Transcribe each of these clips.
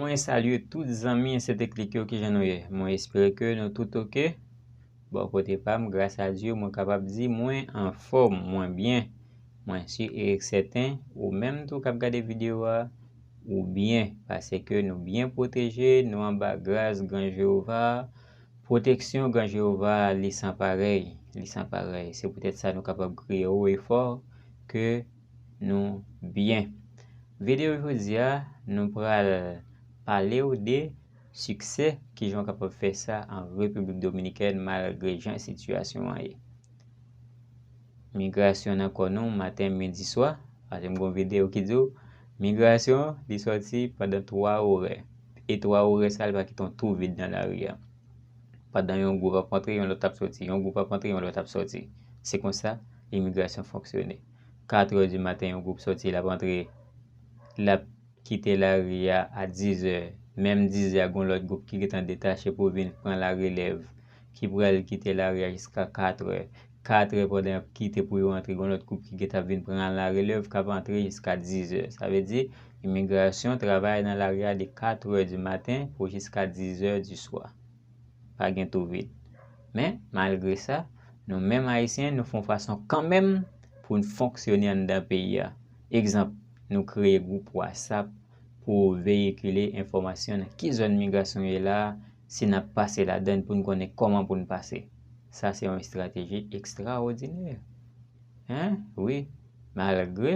Mwen salye tout zanmi Insetechnik yo kijan nou ye mwen espere ke nou tout ok bò kote pam gras a Dye mwen kapab di mwen anfòm mwen byen mwen si e sèten ou menm tou kap gade video a ou byen pase ke nou byen pwoteje nou anba gras gran Jehovah Pwoteksyon gran Jewova a li san parèy, li san parèy. Se poutèt sa nou kapab kriye wo e fò ke nou byen. Videyo jodi a, nou pral pale w de siksè, kijan w kapab fè sa an Repiblik Dominikèn malgre jan sitiyasyon an ye. Migrasyon nan kò nou maten, midi, swa. Paske m gen yon videyo ki di w, migrasyon li sòti pandan 3 orè. E 3 orè sa li pa kite yon tou vid nan lari a. Pandan yon gwoup ap antre, yon lòt ap sòti. Yon gwoup ap antre, yon lòt ap sòti. Se konsa imigrasyon fonksyone. 4 orè di maten yon gwoup sòti l ap antre, l ap. kite lari a a dizè, menm dizè a gon lòt gwoup ki gentan detache pou vin pran la relèv ki pral kite lari a jiska katrè, katrè pandan y ap kite pou yo antre gon lòt gwoup ki gentan ap vin pran la relèv k ap antre jiska dizè. Sa vle di imigrasyon travay nan lari a de katrè di maten pou jiska dizè di swa. Pa gen tou vid. Men, malgre sa, nou menm Ayisyen nou fon fason kanmenm pou n fonksyone anndan peyi a. Egzanp. Nou kreye gwoup whatsapp pou veyikile enfòmasyon nan ki zòn migrasyon ye la a, si n ap pase ladan l pou n konnen kòman pou n pase. Sa se yon estrateji ekstraòdinè! Hein? Wi, malgre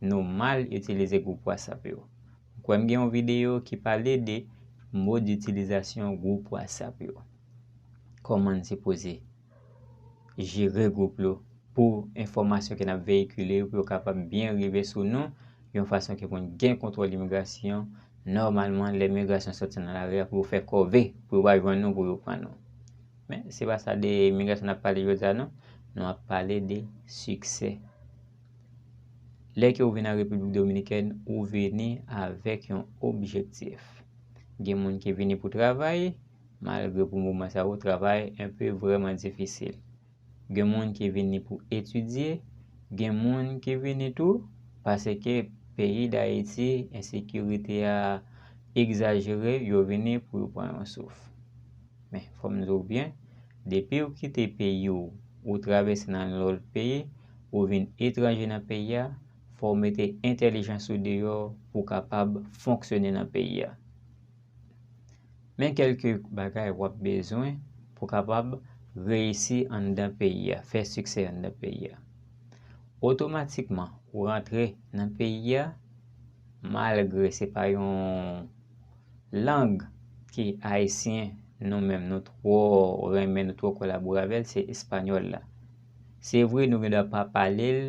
nou mal itilize gwoup whatsapp yo. M kwè m gen yon videyo ki pale de moditilizasyon gwoup whatsapp yo. Kòman n sipoze. jere gwoup yo pou enfòmasyon ke n ap veyikile yo pou yo kapab byen rive sou nou yon fason ke pou n gen kontwòl imigrasyon nòmalman lè migrasyon sòti nan lari a pou yo fè kòve pou yo va jwenn nou pou yo pran nou men se pa sa de imigrasyon n ap pale jodi a non nou ap pale de siksè lè ke ou vini an Repiblik Dominikèn ou vini avèk yon objektif gen moun ki vini pou travay Malgre pou moman sa yo travay enpe vrèman difisil. Gen moun ki vini pou etidye, gen moun ki vini tou paseke peyi Dayiti ensekirite a egzajere yo vini pou yo pran yon souf. Men fò m di w byen, depi w kite peyi w, ou travèse nan yon lòt peyi, ou vin etranje nan peyi a, fò w mete entèlijans ou deyò pou w kapab fonksyone nan peyi a. Men kèlke bagay wap bezwen pou kapab reyisi anndan peyi a, fè siksè anndan peyi a. Otomatikman, ou rantre nan peyi a, malgre se pa yon lang ki ayisyen nou menm nou twò renmen, nou twò kolabore avè l, se espanyòl la. Se vre nou gen dwa pa pale l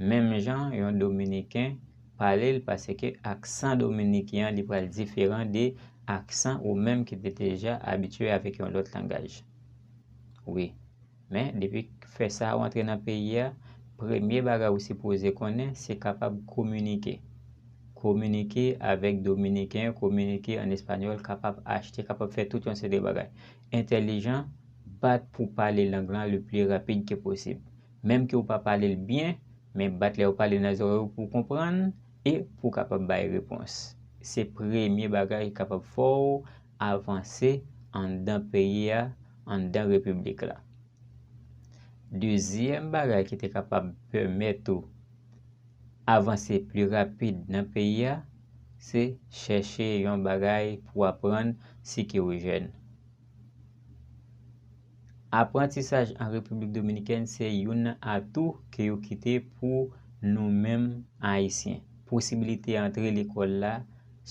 menm jan yon dominiken. pale l paske aksan dominiken an li pral diferan de aksan ou menm ki te deja abitye avèk yon lòt langaj. Wi. Men, depi fè sa ou antre nan peyi a, premye bagay ou sipoze konnen se kapab kominike. Kominike avèk dominiken, kominike an espanyòl, kapab achte, kapab fè tout yon seri de bagay. Entèlijan, bat pou pale lang lan le pli rapid ke posib. menm ke ou pa pale l byen, men bat lè yo pale nan zòrèy ou pou w konprann e pou w kapab bay repons. Se premye bagay ki kapab fè w avanse anndan peyi a, anndan repiblik la. Dezyèm bagay ki te kapab pèmèt ou avanse pli rapid nan peyi a, se chèche yon bagay pou w aprann si ke ou jèn. Aprantisaj an Repiblik Dominikèn se youn nan atou ke yo kite pou nou menm Ayisyen. Posibilite antre lekòl la,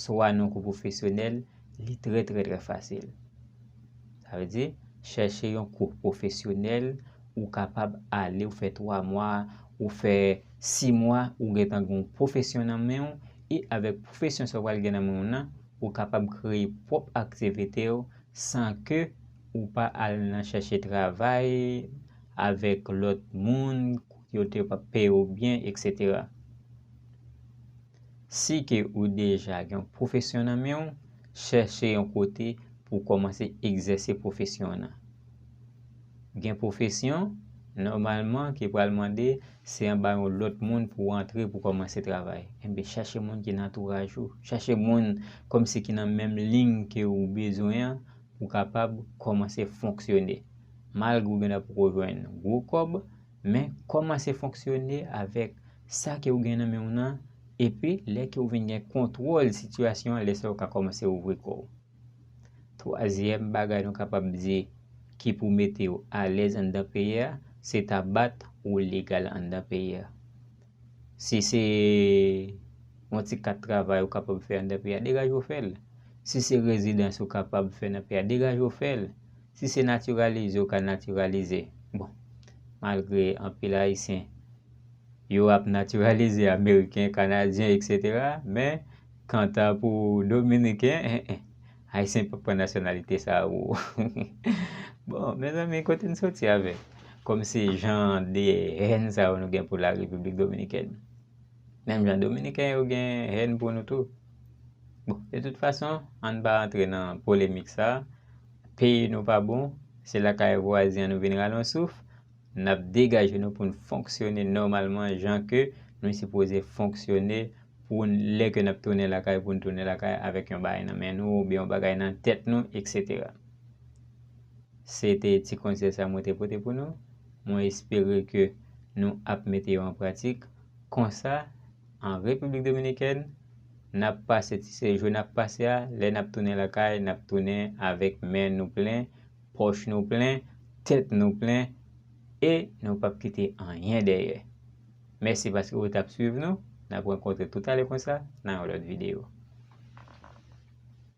swa nan kou pwofesyonèl, li trè trè trè fasil. Sa vle di, chèche yon kou pwofesyonèl, ou kapab ale, ou fè 3 mwa, ou fè 6 mwa, ou gen tan gen yon pwofesyon nan men ou, e avèk pwofesyon sa ou pral gen nan men ou nan, ou kapab kreye pwòp aktivite ou san ke Ou pa al nan chèche travay avèk lòt moun yo te pap peye w byen etc. Si ke ou deja gen yon pwofesyon nan men w, chèche yon kote pou w kòmanse egzèse pwofesyon nan. Gen pwofesyon, nòmalman ki pral mande se anba yon lòt moun pou w antre pou w kòmanse travay. Enben chèche moun ki nan antouraj ou, chèche moun kòmsi ki nan menm liy ke ou bezwen an ou kapab kòmanse fonksyone malgre ou genlè poko jwenn gwo kòb men kòmanse fonksyone avèk sa ke ou gen nan men w nan epi lè ke ou vin gen kontwòl sitiyasyon an lè sa ou ka kòmanse ouvri kò w. Twazyèm bagay nou kapab di ki pou mete w alèz anndan peyi a se ta bat ou legal anndan peyi a. Si se yon ti kat travay ou kapab fè anndan peyi a, degaje w fè l. Si se rezidans ou kapab fè nan peyi a, degaje w fè l. Si se natiralize ou ka natiralize. Bon, malgre anpil Ayisyen, yo ap natiralize Ameriken, Kanadyen, eksetera, men, kanta pou Dominiken, en en. Ayisyen pa pran nasyonalite sa ooh bon mezanmi kote n soti avèk kòm se jan de hèn sa yo nou gen pou la repiblik dominikèn menm jan dominiken yo gen hèn pou nou tou bon de tout fason an n pa antre nan polemik sa peyi nou pa bon se lakay vwazen an nou vin rale yon souf N ap degaje nou pou n fonksyone nòmalman jan ke nou sipoze fonksyone pou n lè ke n ap tounen lakay pou n tounen lakay avèk yon bagay nan men nou oubyen yon bagay nan tèt nou eksetera. Se te ti konsèy sa mwen te pote pou nou. Mwen espere ke nou ap mete yo an pratik. Konsa, an Repiblik Dominikèn, n ap pase ti sejou n ap pase a, lè n ap tounen lakay, n ap tounen avèk men nou plen, Pòch nou plen, tèt nou plen, e nou pap kite anyen dèyè. Mèsi paske ou t ap swiv nou. N ap rankontre toutalè konsa nan yon lòt videyo.